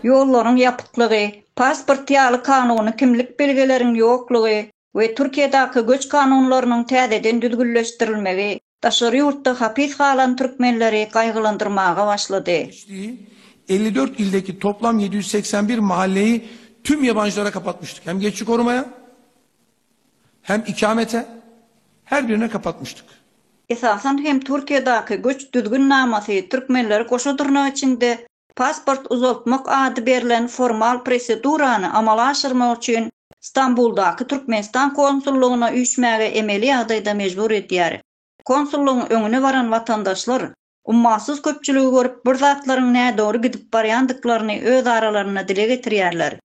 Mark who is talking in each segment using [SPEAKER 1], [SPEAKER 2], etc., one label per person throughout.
[SPEAKER 1] Ýollaryň ýapyklygy, pasport ýaly kanuny kimlik belgileriň ýoklugy we Türkiýedäki göç kanunlarynyň täzeden düzgünleşdirilmegi daşary ýurtda hapys galan türkmenleri gaýgylandyrmaga başlady. geçdiği, elli dört ildeki toplam yedi ýüz segsen bir mahalleyi tüm yabancılara kapatmıştık. Hem geçici korumaya, hem ikamete her birine kapatmyşdyk. Esasan hem Türkiýedaky göç düzgün namasy türkmenleri goşa durnak içinde pasport uzaltmak ady berlen formal prosedurany amala aşyrmak üçin Stambuldaky Türkmenistan konsullygyna üýşmäge emeli ýagdaýda mejbur edýär. Konsullygyň öňüne baran watandaşlar ummasyz köpçüligi görüp bir zatlaryň nädogry gidip barýandyklaryny öz aralarynda dile getirýärler.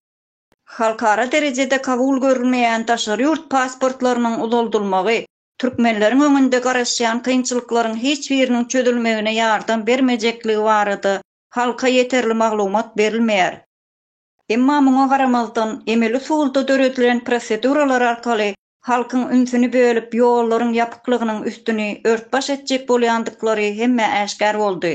[SPEAKER 1] Halkara derejede kabul görülmeýän daşary ýurt pasportlarynyň uzaldylmagy türkmenleriň öňünde garaşýan kynçylyklaryň hiç biriniň çözülmegine ýardam bermejekligi barada halka ýeterli maglumat berilmeýär. Emma muňa garamazdan, emeli usulda döredilen proseduralar arkaly halkyň ünsüni bölüp, ýollaryň ýapyklygynyň üstüni ört-baş etjek bolýandyklary hemmä äşgär boldy.